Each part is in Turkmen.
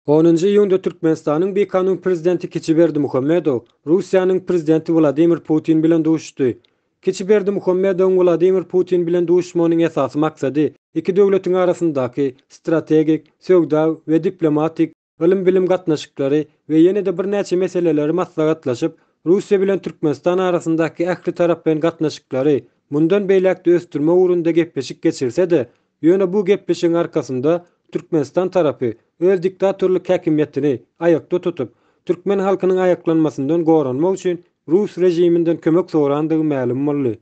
Onunjy iýunda Türkmenistanyň bikanun prezidenti Kiçi Berdimuhamedow Russiýanyň prezidenti Wladimir Putin bilen duşuşdy. Kiçi Berdimuhamedowyň Wladimir Putin bilen duşuşmagynyň esasy maksady iki döwletiň arasyndaky strategik, söwda we diplomatik, ylym-bilim gatnaşyklary we ýene-de birnäçe meseleleri maslahatlaşyp, Russiýa bilen Türkmenistan arasyndaky ähli taraplaýyn gatnaşyklary mundan beýläk-de ösdürmek ugrunda gepleşik geçirse-de, ýöne bu gepleşigiň arkasynda Türkmenistan tarapy öz diktatorlyk häkimiýetini aýakda tutup, türkmen halkynyň aýaklanmasyndan goranmak üçin rus režiminden kömek sorandygy mälim boldy.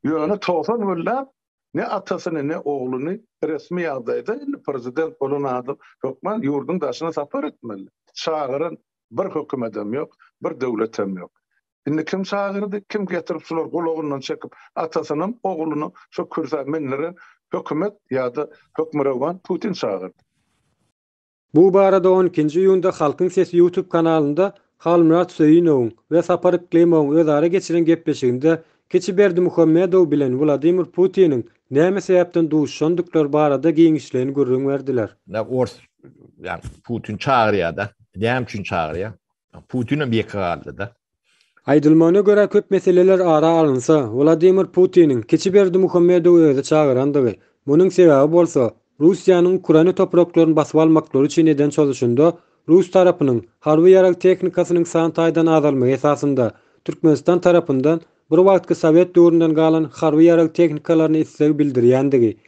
Ýöne togsan günläp Ne atasyny ne ogluny resmi ýagdaýda indi prezident bolan adam hökman ýurduň daşyna sapar etmeli. Çagyran bir hökümetem ýok, bir döwletem ýok. Indi kim çagyrdy, kim getirip şular gulagyndan çekip atasynam oglunam şo kürsä mindiren hökümet ýada hökmürowan Putin çagyrdy. Bu barada on ikinji iýunda Halkyň sesi ýutub kanalynda Halmyrat Söýünowyň we Sapar Yklymowyň özara geçiren gepleşiginde kiçi Berdimuhamedow bilen Wladimir Putiniň näme sebäpden duşuşandyklary barada giňişleýin gürrüň berdiler. Nä ors ýa Putin çagyrýada, näme üçin çagyrýa? Putinem ýeke galdyda. Aýdylmagyna görä, köp meseleler ara alynsa, Wladimir Putiniň kiçi Berdimuhamedowy özi çagyrandygy, munuň sebäbi bolsa, Russiýanyň Ukraina topraklaryny basyp almaklary üçin eden çozuşynda rus tarapynyň harby ýarag tehnikasynyň san taýdan azalmagy esasynda, Türkmenistan tarapyndan bir wagtky sowet döwründen galan harby ýarag tehnikalaryna isleg bildirýändigi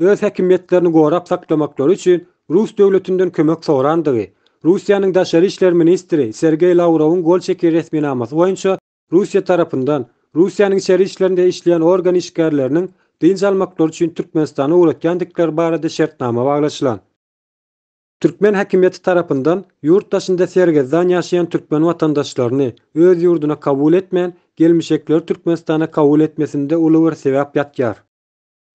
öz häkimiýetlerini gorap saklamaklary üçin rus döwletinden kömek sorandygy, Russiýanyň Daşary işler ministri Sergeý Lawrowyň gol çeken resminamasy boýunça Russiýa tarapyndan Russiýanyň içeri işlerinde işleýän organ işgärleriniň dynç almaklary üçin Türkmenistana ugratýandykleri barada şertnama baglaşylan. Türkmen häkimiýeti tarapyndan ýurt daşynda sergezdan ýaşaýan türkmen watandaşlaryny öz ýurduna kabul etmän, gelmişekleri Türkmenistana kabul etmesinde uly bir sebäp ýatýar.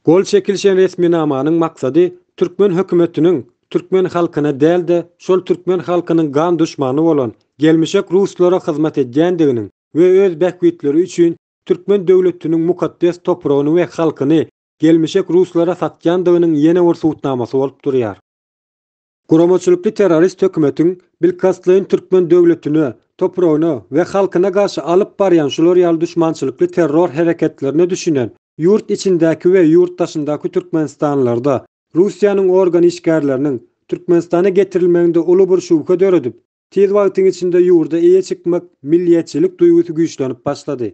Gol çekilişen resminamanyň maksady türkmen hökümetiniň türkmen halkyna däl-de, şol türkmen halkynyň gan duşmany bolan gelmişek ruslara hyzmat edýändiginiň we öz bähbitleri üçin türkmen döwletiniň mukaddes topragyny we halkyny gelmişek ruslara satýandygynyň ýene bir subutnamasy bolup durýar. Guramaçylykly terrorist hökümetiň bilkastlaýyn türkmen döwletine, topragyna we halkyna garşy alyp barýan şular ýaly duşmançylykly terror hereketlerine düşünen ýurt içindäki we ýurt daşyndaky türkmenistanlylarda Russiýanyň organ işgärleriniň Türkmenistana getirilmeginde uly bir şübhe döredip, tiz wagtyň içinde ýurda eýe çykmak milliýetçilik duýgusy güýçlenip başlady.